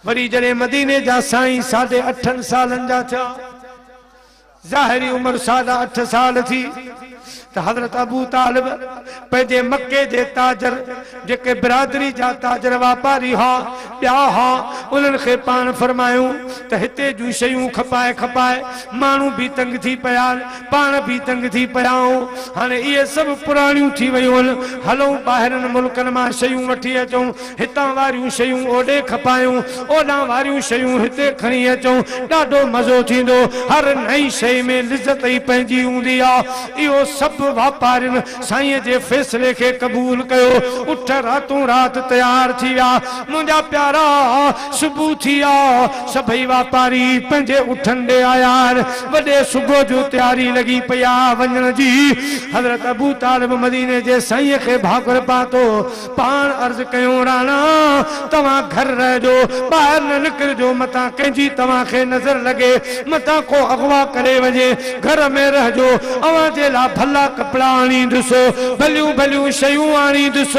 وري جڏهن مديني جا سائين ساڍي اٺن سالن جا ٿيا، ظاهري عمر ساڍا اٺ سال ٿي، ته حضرت ابو طالب پنهنجي مڪي جي تاجر، جيڪي برادري جا تاجر واپاري ها، ٻيا ها، انهن کي پاڻ فرمايو ته هتي جون شيون کپائي کپائي ماڻهو به تنگ ٿي پيا آهن، پاڻ به تنگ ٿي پيا آهون، هاڻي اهي سڀ پراڻيون ٿي ويون آهن، هلون ٻاهرين ملڪن مان شيون وٺي اچون. هتان واريون شيون اوڏي کپايون، اوڏان واريون شيون هتي کڻي اچون، ڏاڍو مزو ٿيندو. هر نئين شيء ۾ لذت ئي پنهنجي هوندي آ. اهو سڀ واپارين سائينء جي فيصلي کي قبول ڪيو. اٺ راتون رات تيار ٿي ويا. منهنجا پيارا! صبح ٿي آ. سڀئي واپاري پنهنجي اٺن ڏي آيا آهن. وڏي صبح جو تياري لڳي پئي آ وڃڻ جي. حضرت ابوطالب مديني جي سائينء کي ڀاڪر پاتو. پاڻ عرض ڪيون راڻا! توهان گهر رهجو، ٻاهر نه نڪرجو، متان ڪنهن جي توهان کي نظر لڳي، متان ڪو اغوا ڪري وڃي، گهر ۾ رهجو، اوهان جي لاء ڀلا ڪپڙا آڻيندس، ڀليون ڀليون شيون آڻيندس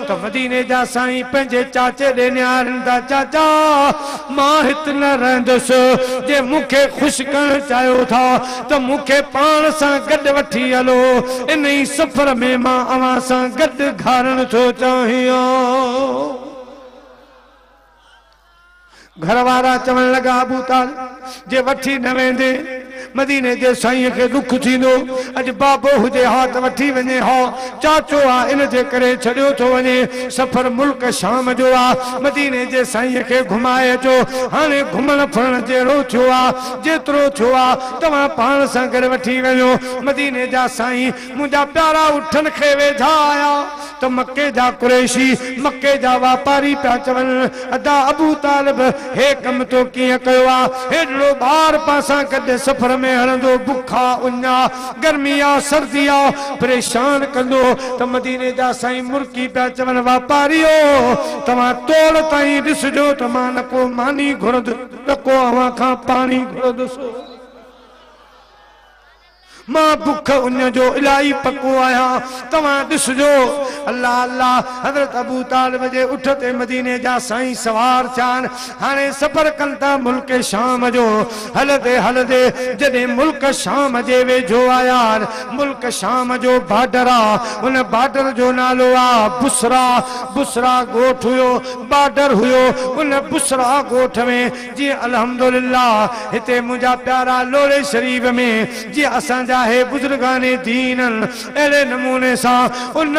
ته مديني جا سائين پنهنجي چاچي ڏي نهاريندا، چاچا! مان هت نه رهندس، جي مون کي خوش ڪرڻ چاهيو ٿا، ته مون کي پاڻ سان گڏ وٺي هلو، انهي سفر ۾ مان اوهان سان گڏ گهارڻ ٿو چاهيان. گهر وارا چوڻ لڳا، ابو طالب جي وٺي نه ويندين، مديني جي سائينء کي ڏک ٿيندو، اڄ بابو هجي ها ته وٺي وڃي ها، چاچو آ ان جي ڪري ڇڏيو ٿو وڃي، سفر ملڪ شام جو آ، مديني جي سائينء کي گهمائي اچو، هاڻي گهمڻ ڦرڻ جهڙو ٿيو آ. جيترو ٿيو آ توهان پاڻ سان گڏ وٺي وڃو. مديني جا سائين منهنجا پيارا اٺن کي ويجها آيا ته مڪي جا قريشي، مڪي جا واپاري پيا چون، ادا ابو طالب هي ڪم تو ڪيئن ڪيو آ؟ هيڏڙو ٻار پاسان گڏ سفر ۾ هڻندو، بک آ، اڃ آ، گرمي آ، سردي آ، پريشان ڪندو ته مديني جا سائين مرڪي پيا چون، واپاريو توهان توڙ تائين ڏسجو ته مان نه ڪو ماني گهرندس. نه ڪو اوهان کان پاڻي گهرندو سو مان بک اڃ جو الاهي پڪو آهيان توهان ڏسجو الله الله حضرت ابو طالب جي اٺ تي مديني جا سائين سوار ٿيا آهن هاڻي سفر ڪن ٿا ملڪ شام جو هلندي هلندي جڏهن ملڪ شام جي ويجهو آيا آهن ملڪ شام جو بارڊر آهي ان بارڊر جو نالو آهي بصرا بصرا ڳوٺ هيو بارڊر هيو ان بصريٰ ڳوٺ ۾ جي الحمدلله هتي منهنجا پيارا لوڙهي شريف ۾ جي اسان جا هي بزرگان دين ان اهڙي نموني سان ان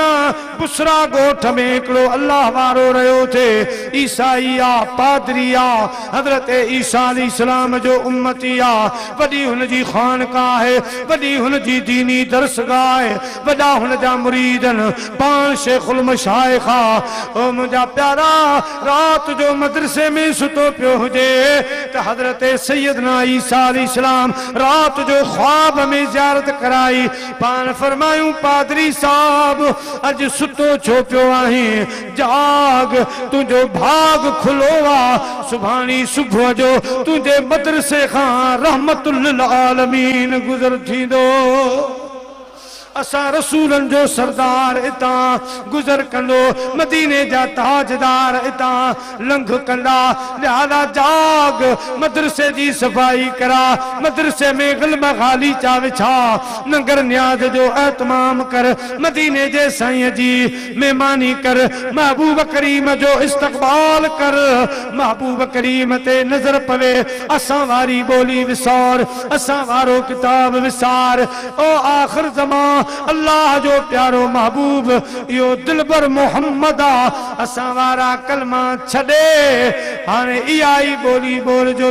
بصريٰ ڳوٺ ۾ هڪڙو الله وارو رهيو ٿي عيسائي آ پادري آ حضرت عيسيٰ عليه السلام جو امتي آ وڏي هن جي خانقاه آهي وڏي هن جي ديني درسگاهه آهي وڏا هن جا مريد آهن، پاڻ شيخ المشائخ آ. او منهنجا پيارا! رات جو مدرسي ۾ ستو پيو هجي ته حضرت سيدنا عيسيٰ عليه السلام رات جو خواب ۾ زيارت ڪرائي. پاڻ فرمايون، پادري صاحب! اڄ ستو ڇو پيو آهين؟ جاڳ، تنهنجو ڀاڳ کلو آ. سڀاڻي صبح جو تنهنجي مدرسي کان رحمة للعالمين گذر ٿيندو. اسان رسولن جو سردار اتان گذر ڪندو مديني جا تاجدار اتان لنگھ ڪندا لهٰذا جاڳ مدرسي جي صفائي ڪراء مدرسي ۾ غلم غاليچا وڇاء ننگر نياز جو اهتمام ڪر مديني جي سائين جي مهماني ڪر محبوب ڪريم جو استقبال ڪر محبوب ڪريم تي نظر پوي اسان واري ٻولي وسار اسان وارو ڪتاب وسار او آخر زمان الله جو پيارو محبوب اهو دلبر محمد آ اسان وارا ڪلما ڇڏي هاڻي اها ئي ٻولي ٻولجو.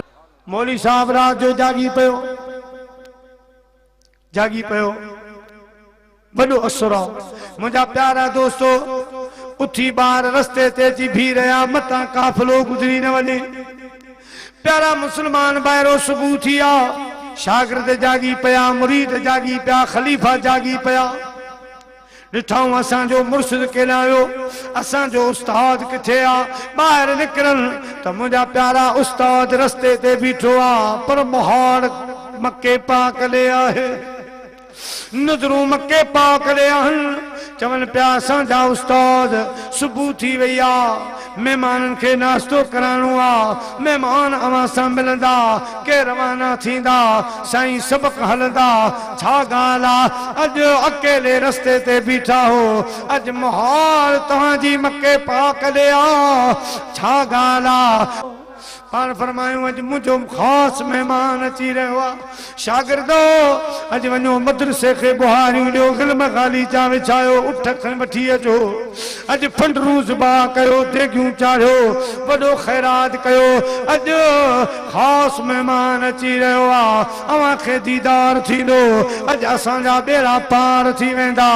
مولوي صاحب رات جو جاڳي پيو جاڳي پيو وڏو اسرو منهنجا پيارا دوستو اٿي ٻار رستي تي اچي بيهي رهيا متان قافلو گذري نه وڃي. پيارا مسلمان ڀائرو صبح ٿي آ شاگرد جاڳي پيا مريد جاڳي پيا خليفا جاڳي پيا ڏٺائون اسان جو مرشد ڪيڏانهن ويو اسان جو استاد ڪٿي آ ٻاهر نڪرن ته منهنجا پيارا استاد رستي تي بيٺو آ پر مهاڙ مڪي پاڪ ڏي آهي. نظرون مڪي پاڪ ڏي آهن. چون پيا اسان جا استاد صبح ٿي وئي آ مهمانن کي ناشتو ڪرائڻو آ مهمان اوهان سان ملندا ڪي روانا ٿيندا سائين سبق هلندا ڇا ڳالهه آ اڄ اڪيلي رستي تي بيٺا هو اڄ مهال توهان جي مڪي پاڪ ڏي آ ڇا ڳالهه آ. پاڻ فرمايو اڄ منهنجو خاص مهمان اچي رهيو آ، شاگردو! اڄ وڃو مدرسي کي ٻهاريون ڏيو، غلم غالي جا وڇايو، اٺ کڻي وٺي اچو، اڄ پنڊرون ذبح ڪيو، ديڳيون چاڙهيو، وڏو خيرات ڪيو، اڄ خاص مهمان اچي رهيو آ، اوهان کي ديدار ٿيندو، اڄ اسان جا ٻيڙا پار ٿي ويندا،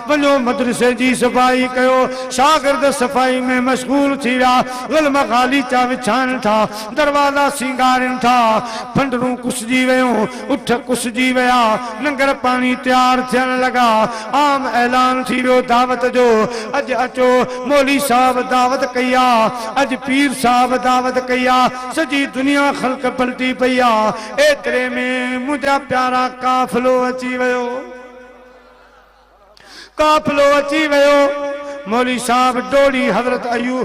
وڃو مدرسي جي صفائي ڪيو، شاگرد صفائي ۾ مشغول ٿي ويا، ظلم غاليچا وڇائن ٿا، دروازا سينگارين ٿا، ڦنڊرون ڪسجي ويون، اٺ ڪسجي ويا، ننگر پاڻي تيار ٿيڻ لڳا، عام اعلان ٿي ويو دعوت جو، اڄ اچو، مولوي صاحب دعوت ڪئي آ، اڄ پير صاحب دعوت ڪئي آ، سڄي دنيا خلق پلٽي پئي آ، ايتري ۾ منهنجا پيارا قافلو اچي ويو. قافلو اچي ويو. مولوي صاحب ڊوڙي حضرت ايو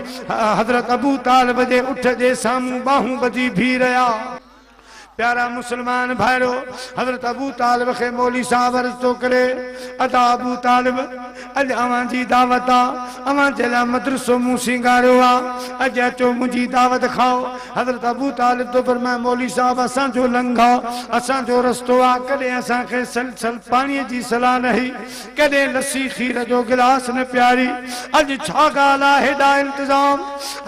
حضرت ابو طالب جي اٺ جي سامهون ٻانهون ٻڌي بيهي رهيا. پيارا مسلمان ڀائرو! حضرت ابو طالب کي مولوي صاحب عرض ٿو ڪري، ادا ابو طالب! اڄ اوهان جي دعوت آ. اوهان جي لاء مدرسو مون سينگاريو آ. اڄ اچو منهنجي دعوت کائو. حضرت ابو طالب ٿو فرمائي، مولوي صاحب اسان جو لنگهه آ، اسان جو رستو آ، ڪڏهن اسان کي سل سل پاڻيء جي صلاح نه هئي، ڪڏهن لسي کير جو گلاس نه پياري، اڄ ڇا ڳالهه آ، هيڏا التزام،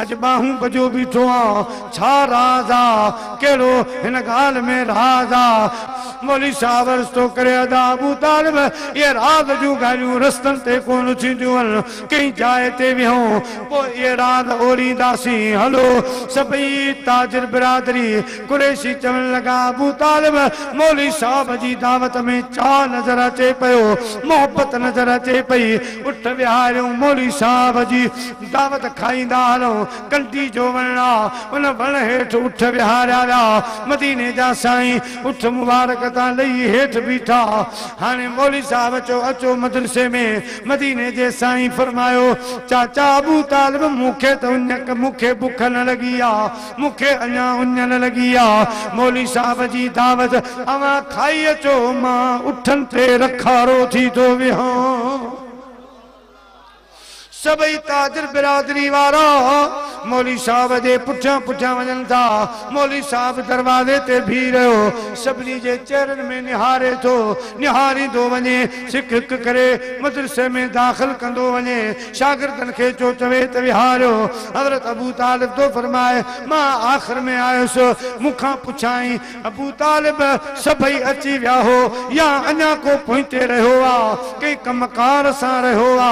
اڄ ٻانهون ٻڌيو بيٺو آن، ڇا راز آ، ڪهڙو هن ڳالهه ۾ راز آ. مولوي صاحب عرض ٿو ڪري، ادا ابو طالب اهي راز جون ڳالهيون رستن تي ڪونه ٿينديون آهن، ڪنهن جاء تي ويهون، پوء ايراض اورينداسين. هلو! سڀئي تاجر برادري قريشي چوڻ لڳا، ابو طالب، مولوي صاحب جي دعوت ۾ چاهه نظر اچي پيو، محبت نظر اچي پئي، اٺ ويهاريون مولوي صاحب جي دعوت کائيندا هلون، ڪنڊي جو وڻ آ، ان وڻ هيٺ اٺ ويهاريا ويا، مديني جا سائين اٺ مبارڪ تان لهي هيٺ بيٺا، هاڻي مولوي صاحب چيو، اچو مدرسي ۾. مديني جي سائين فرمايو، چاچا ابوطالب مون کي ته اڃڪ مون کي بک نه لڳي آ، مون کي اڃا اڃ نه لڳي آ، مولوي صاحب جي دعوت اوهان کائي اچو، مان اٺن تي رکارو ٿي ٿو ويهان. سڀئي تاجر برادري وارا مولوي صاحب جي پٺيان پٺيان وڃن ٿا، مولوي صاحب دروازي تي بيهي رهيو، سڀني جي چهرن ۾ نهاري ٿو، نهاريندو وڃي، سک ھڪ ڪري مدرسي ۾ داخل ڪندو وڃي شاگردن کي چو چوي ته ويھاريو حضرت ابو طالب ٿو فرمائي مان آخر ۾ آيس مون کان پڇيائين ابو طالب سڀئي اچي ويا ھو يا اڃا ڪو پوئتي رھيو آ ڪنھن ڪم ڪار سان رھيو آ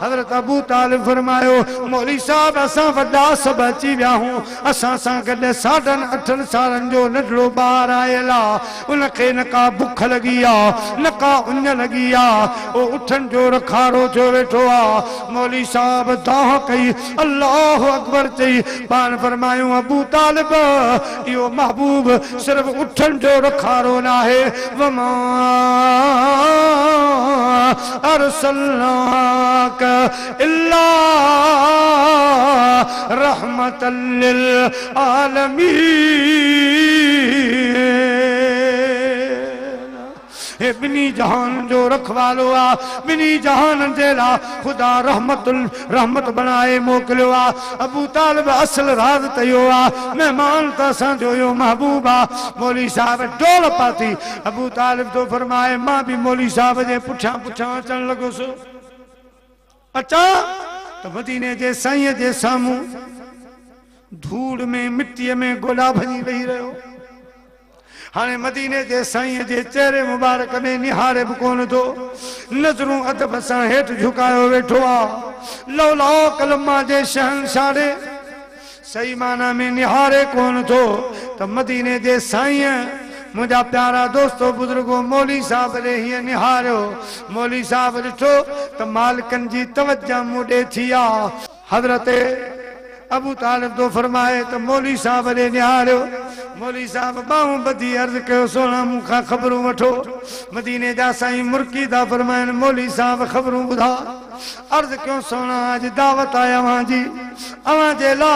حضرت ابو طالب فرمايو مولوي صاحب اسان وڏا سڀ اچي ويا ھون اسان سان گڏ ساڍن اٺن سالن جو ننڍڙو ٻار آيل آ ان کي نه ڪا بک لڳي آ، نه ڪا اڃ لڳي آ، او اٺن جو رکارو ٿيو ويٺو آ. مولوي صاحب دانهن ڪئي، الله اڪبر چئي، پاڻ فرمايو، ابوطالب! اهو محبوب صرف اٺن جو رکارو ناهي، وما ارسلناک. الا رحمتا للعالمين هي ٻنهي جهان جو رکوالو آ ٻنهي جهان جي لا خدا رحمت رحمت بڻائي موڪليو آ ابو طالب اصل راز ته اهو آ مهمان ته اسان جو اهو محبوب آ مولوي صاحب ڊول پاتي ابو طالب ٿو فرمائي مان به مولوي صاحب جي پٺيان پٺيان اچڻ لڳس اچان ته مديني جي سائينء جي سامهون ڌوڙ ۾ مٽيء ۾ گوڏا ڀڃي ويهي رهيو. هاڻي مديني جي سائينء جي چهري مبارڪ ۾ نهاڙي به ڪونه ٿو. نظرون ادب سان هيٺ جهڪايو ويٺو آ. لولاڪ لما جي شهنشاهڙي صحيح معنيٰ ۾ نهاري ڪونه ٿو ته مديني جي سائينء منهنجا پيارا دوستو بزرگو مولوي صاحب ڏي هيئن نهاريو. مولوي صاحب ڏٺو ته مالڪن جي توجهه مون ڏي ٿي آ. حضرت ابو طالب ٿو فرمائي ته مولوي صاحب ڏي نهاريو. مولوي صاحب ٻانهون ٻڌي عرض ڪيو سهڻا مون کان خبرون وٺو. مديني جا سائين مرڪي ٿا فرمائن مولوي صاحب خبرون ٻڌاء. عرض ڪيون سهڻا اڄ دعوت آهي اوهان جي اوهان جي لا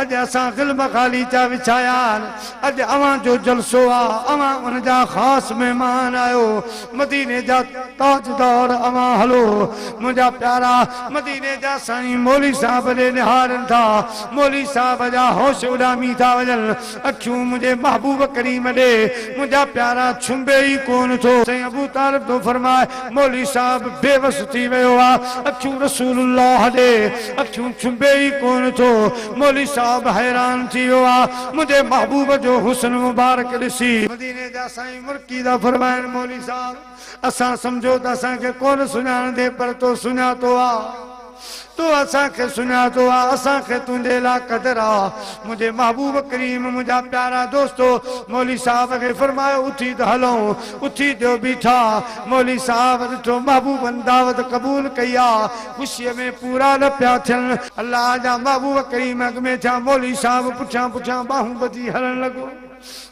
اڄ اسان غلم خالي چا وڇايا آهن اڄ اوهان جو جلسو آ اوهان ان جا خاص مهمان آهيو مديني جا تاجدار اوهان هلو منهنجا پيارا مديني جا سائين مولوي صاحب ڏي نهارين ٿا مولوي صاحب جا هوش اڏامي ٿا وڃن اکيون منهنجي محبوب ڪريم ڏي منهنجا پيارا ڇنبي ئي ڪونه ٿو. سائين ابو طالب ٿو فرمائي مولوي صاحب بي وس ٿي ويو آ اکيون رسول الله ڏي اکيون ڇنبي ئي ڪونه ٿو مولوي صاحب حيران ٿي ويو آ منهنجي محبوب جو حسن مبارڪ ڏسي. مديني جا سائين مرڪي ٿا فرمائن مولوي صاحب. اسان سمجهيو ته اسان کي ڪونه سڃاڻندين پر تو سڃاتو آ. تو اسان کي سڃاتو آ. اسان کي تنهنجي لا قدر آ. منهنجي محبوب ڪريم منهنجا پيارا دوستو مولوي صاحب کي فرمايو اٿي ته هلون. اٿي ٿيو بيٺا. مولوي صاحب ڏٺو محبوبن دعوت قبول ڪئي آ. خوشيء ۾ پورا نه پيا ٿين. الله جا محبوب ڪريم اڳ ۾ ٿيا مولوي صاحب پٺيان پٺيان ٻانهون ٻڌي هلڻ لڳو.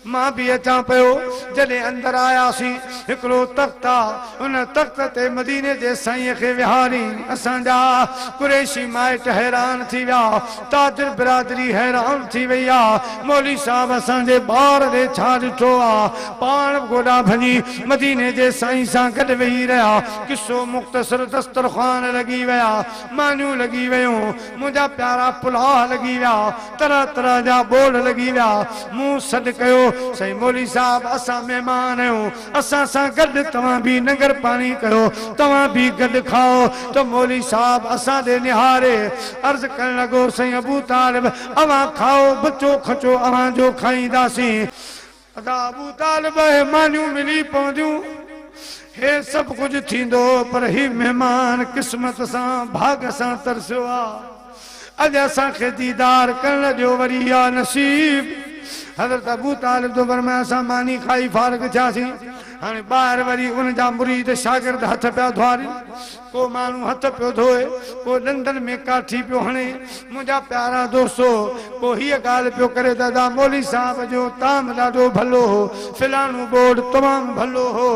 مان به اچان پيو. جڏهن اندر آياسين، هڪڙو تخت آ، ان تخت تي مديني جي سائينء کي ويهاري. اسان جا قريشي مائٽ حيران ٿي ويا. تاجر برادري حيران ٿي وئي آ. مولوي صاحب اسان جي ٻار ڏي ڇا ڏٺو آ؟ پاڻ به گوڏا ڀڃي مديني جي سائين سان گڏ ويهي رهيا. قصو مختصر، دسترخوان لڳي ويا، مانيون لڳي ويون، منهنجا پيارا پلاء لڳي ويا. طرح طرح جا ٻول لڳي ويا. مون سڏ ڪيو، سائين مولوي صاحب اسان مهمان آهيون، اسان سان گڏ توهان به ننگر پاڻي ڪيو، توهان به گڏ کائو ته مولوي صاحب اسان ڏي نهاري عرض ڪرڻ لڳو، سائين ابوطالب اوهان کائو، بچو کچو اوهان جو کائينداسين. ادا ابو طالب اهي مانيون ملي پونديون هي سڀ ڪجهه ٿيندو پر هي مهمان قسمت سان ڀاڳ سان ترسيو آ اڄ اسان کي ديدار ڪرڻ ڏيو وري يا نصيب حضرت ابو طالب ٿو فرمائي اسان ماني کائي فارغ ٿياسين هاڻي ٻاهر وري ان جا مريد شاگرد هٿ پيا ڌوارين ڪو ماڻهو هٿ پيو ڌوئي، ڪو ڏندن ۾ ڪاٺي پيو هڻي، منهنجا پيارا دوستو! ڪو هيء ڳالهه پيو ڪري ته ادا مولوي صاحب جو تام ڏاڍو ڀلو هو، فلاڻو بورڊ تمام ڀلو هو،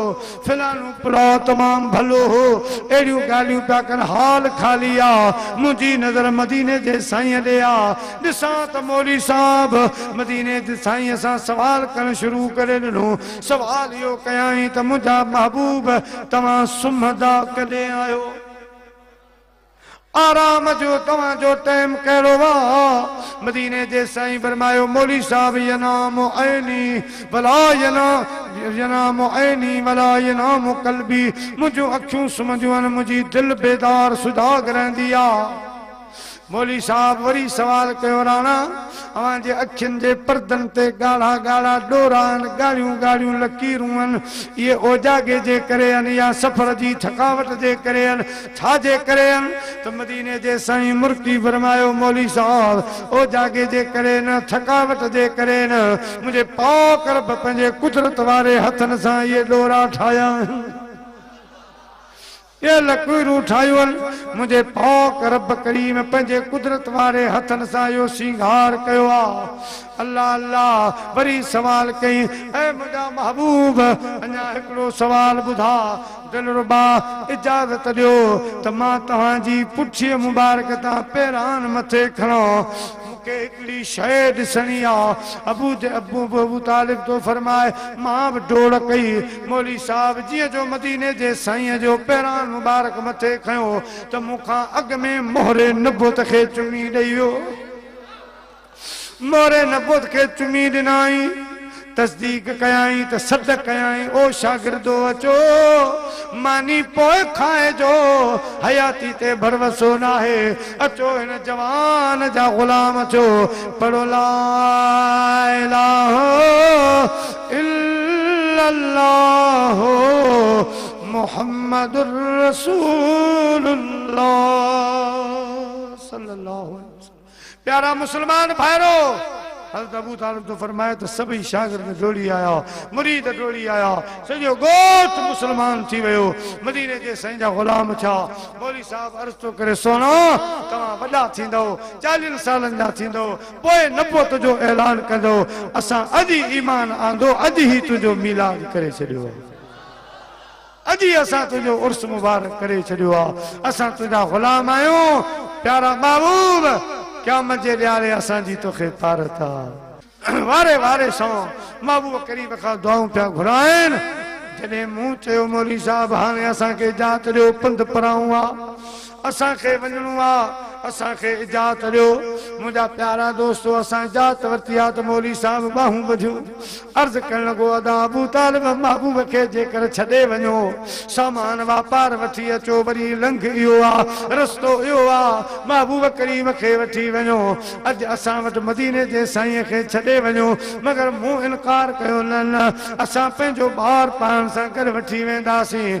فلاڻو پلاء تمام ڀلو هو، اهڙيون ڳالهيون پيا ڪن، هال خالي آ، منهنجي نظر مديني جي سائينء ڏي آ، ڏسان ته مولوي صاحب مديني جي سائينء سان سوال ڪرڻ شروع ڪري ڏنو. سوال اهو ڪيائين ته منهنجا محبوب توهان سمهندا ڪڏهن آهيو؟ آرام جو توهان جو ٽيم ڪهڙو آ؟ مديني جي سائين فرمايو مولوي صاحب ينام عيني ولا ينام عيني ولا ينام قلبي منهنجون اکيون سمهنديون آهن منهنجي دل بيدار سجاڳ رهندي آ. مولوي صاحب وري سوال ڪيو راڻا اوهان جي اکين جي پردن تي ڳاڙها ڳاڙها ڏورا آهن ڳاڙهيون ڳاڙهيون لڪيرون آهن اهي اوجاڳي جي ڪري آهن يا سفر جي ٿڪاوٽ جي ڪري آهن ڇا جي ڪري آهن ته مديني جي سائين مرڪي فرمايو مولوي صاحب اوجاڳي جي ڪري نه ٿڪاوٽ جي ڪري نه منهنجي پاڪ رب پنهنجي قدرت واري هٿن سان اهي ڏورا ٺاهيا آهن. اي لک روح ٺاهيول، منهنجي پاڪ رب ڪريم پنهنجي قدرت واري هٿن سان اهو سينگار ڪيو آ. الله الله وري سوال ڪيائين، اي منهنجا محبوب! اڃا هڪڙو سوال ٻڌاء. دلربا اجازت ڏيو ته مان توهان جي پٺيء مبارڪ تان پيران مٿي کڻان. کي هڪڙي شيء ڏسڻي آ. ابو ابو طالب ٿو فرماء، مان به ڊوڙ ڪئي. مولوي صاحب جيئن جو مديني جي سائينء جو پيراڻ مبارڪ مٿي کنيو ته مون کان اڳ ۾ مهر نبوت کي چمي ڏئي ويو. مهر نبوت کي چمي ڏنائين. تصديق ڪيائين ته سڏ ڪيائين، او شاگردو! اچو، ماني پوء کائجو، حياتي تي ڀروسو ناهي، اچو هن جوان جا غلام ٿيو، پڙهو لا اله الا الله محمد رسول الله صلي الله عليه وسلم. پيارا مسلمان ڀائرو! حضرت ابو طالب ٿو فرمائي ته سڀئي شاگرد ڊوڙي آيا، مريد ڊوڙي آيا، سڄو ڳوٺ مسلمان ٿي ويو، مديني جي سائين جا غلام ٿيا، مولوي صاحب عرض ٿو ڪري سهڻا! توهان وڏا ٿيندؤ، چاليهن سالن جا ٿيندؤ، پوء نبوت جو اعلان ڪندؤ، اسان اڄ ئي ايمان آندو، اڄ هي تنهنجو ميلاد ڪري ڇڏيو. اڄ ئي اسان تنهنجو عرس مبارڪ ڪري ڇڏيو آ، اسان تنهنجا غلام آهيون، پيارا محبوب! قيامت جي ڏهاڙي اسان جي توکي طارت آ. واري واري سان محبوب ڪريم کان دعائون پيا گهرائين، جڏهن مون چيو مولوي صاحب هاڻي اسان کي اجازت ڏيو پنڌ پرائون آ، اسان کي وڃڻو آ اسان کي اجاعت ڏيو منهنجا پيارا دوستو اسان اجاعت ورتي آ ته مولوي صاحب ٻانهون ٻڌيون عرض ڪرڻ لڳو ادا ابو طالب محبوب کي جيڪر ڇڏي وڃو سامان واپار وٺي اچو وري لنگهه اهو آ رستو اهو آ محبوب ڪريم کي وٺي وڃو اڄ اسان وٽ مديني جي سائين کي ڇڏي وڃو مگر مون انڪار ڪيو نه نه اسان پنهنجو ٻار پاڻ سان گڏ وٺي وينداسين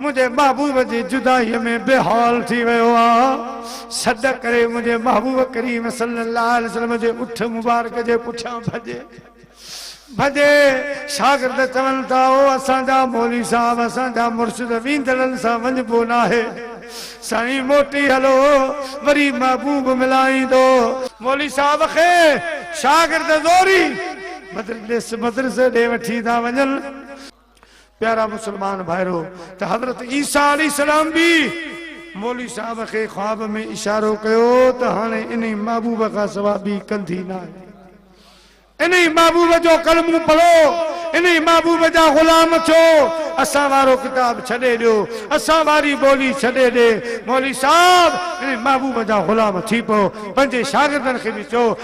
منهنجي محبوب جي جدائيء ۾ بي حال ٿي ويو آ، سڏ ڪري منهنجي محبوب ڪريم صلي الله عليه وسلم جي اٺ مبارڪ جي پٺيان ڀڄي ڀڄي شاگرد چون ٿا او اسان جا مولوي صاحب اسان جا مرشد ويندڙن سان وڃبو ناهي سائين موٽي هلو وري محبوب ملائيندو. مولوي صاحب کي شاگرد زوري مدرسي ڏي وٺي ٿا وڃن. پيارا مسلمان ڀائرو! ته حضرت عيسيٰ عليه السلام به مولوي صاحب کي خواب ۾ اشارو ڪيو ته هاڻي انهي محبوب کان سوا ٻي ڪنڌي ناهي. انهي محبوب جو ڪلمون پڙهو، انهي محبوب جا غلام ٿيو، اسان وارو ڪتاب ڇڏي ڏيو، اسان واري ٻولي ڇڏي ڏي. مولوي صاحب انهي محبوب جا غلام ٿي پئو، پنهنجي شاگردن کي به چئو،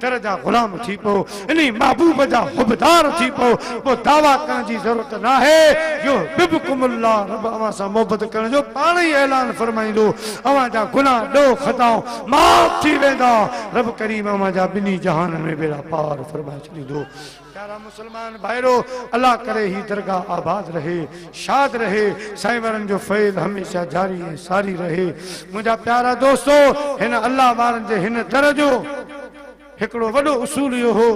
در جا غلام ٿي پئو، انهي محبوب جا حبدار ٿي پئو، پوء دعويٰ ڪرڻ جي ضرورت ناهي، يحببڪم الله رب اوهان سان محبت ڪرڻ جو پاڻ ئي اعلان فرمائيندو، اوهان جا گناهه ڏوهه خطائون معاف ٿي ويندا، رب ڪريم اوهان جا ٻنهي جهانن ۾ بيڙا پار فرمائي ڇڏيندو. پيارا مسلمان ڀائرو! الله ڪري هي درگاهه آباد رهي، شاد رهي، سائين وارن جو فيض هميشه جاري ۽ ساري رهي. منهنجا پيارا دوستو! هن الله وارن جي هن در جو هڪڙو وڏو اصول اهو هو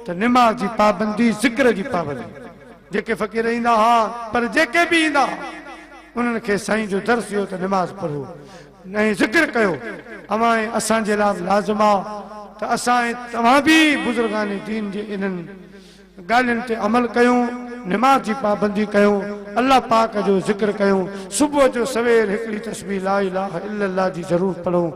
ته نماز جي پابندي، ذڪر جي پابندي. جيڪي فقير ايندا ها، پر جيڪي به ايندا ها، انهن کي سائين جو درس اهو ته نماز پڙهو. نئين ذڪر ڪيو، اوهان ۽ اسان جي لاء به لازم آ ته اسان ۽ توهان به بزرگان دين جي انهن ڳالهين تي عمل ڪيون، نماز جي پابندي ڪيون، الله پاڪ جو ذڪر ڪيون، صبح جو سوير هڪڙي تسبيح لا اله الا الله جي ضرور پڙهون،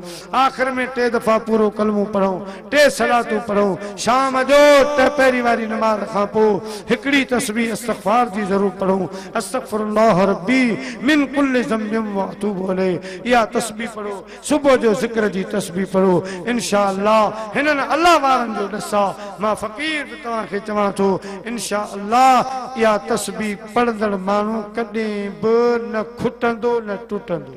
آخر ۾ ٽي دفعا پورو ڪلمو پڙهون، ٽي صلاتون پڙهو، شام جو ٽه پهري واري نماز کان پوء هڪڙي تسبيح استغفار جي ضرور پڙهو، استغفر الله ربي من ڪل ذنب واتوب اليه اها تسبيح پڙهو، صبح جو ذڪر جي تسبيح پڙهو، انشاء الله هنن الله وارن جو ڏس آ، مان فقير به توهان کي چوان ٿو انشاء الله اها تسبيح پڙهندڙ ماڻهو ڪڏهن به نه کٽندو نه ٽٽندو.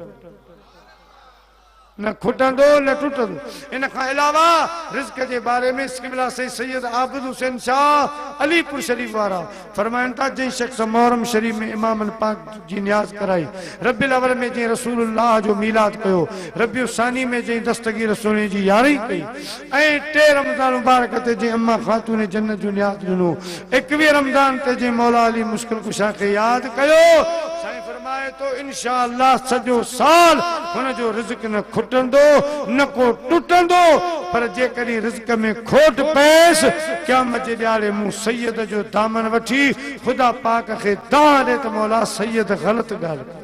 نه کٽندو نه ٽٽندو. ان کان علاوه رزق جي باري ۾ قبلا سيد سيد عابد حسين شاهه علي پور شريف وارا فرمائن ٿا جنهن شخص محرم شريف ۾ امام پاڪ جي نياز ڪرائي، ربيع الاول ۾ جنهن رسول الله جو ميلاد ڪيو، ربيع الثاني ۾ جنهن دستگير سهڻي جي يارهين ڪئي، ۽ ٽي رمضان مبارڪ تي جنهن اما خاتون جنت جو نياز ڏنو، ايڪويهه رمضان تي جنهن مولا علي مشڪل ڪشا کي ياد ڪيو، سائين فرمائي ٿو انشاء الله سڄو سال هن جو رزق نه کٽندو نه ڪو ٽٽندو، پر جيڪڏهن رزق ۾ کوٽ پئيس، قيامت جي ڏهاڙي مون سيد جو دامن وٺي خدا پاڪ کي دانهن ڏي ته مولا سيد غلط ڳالهه ڪئي.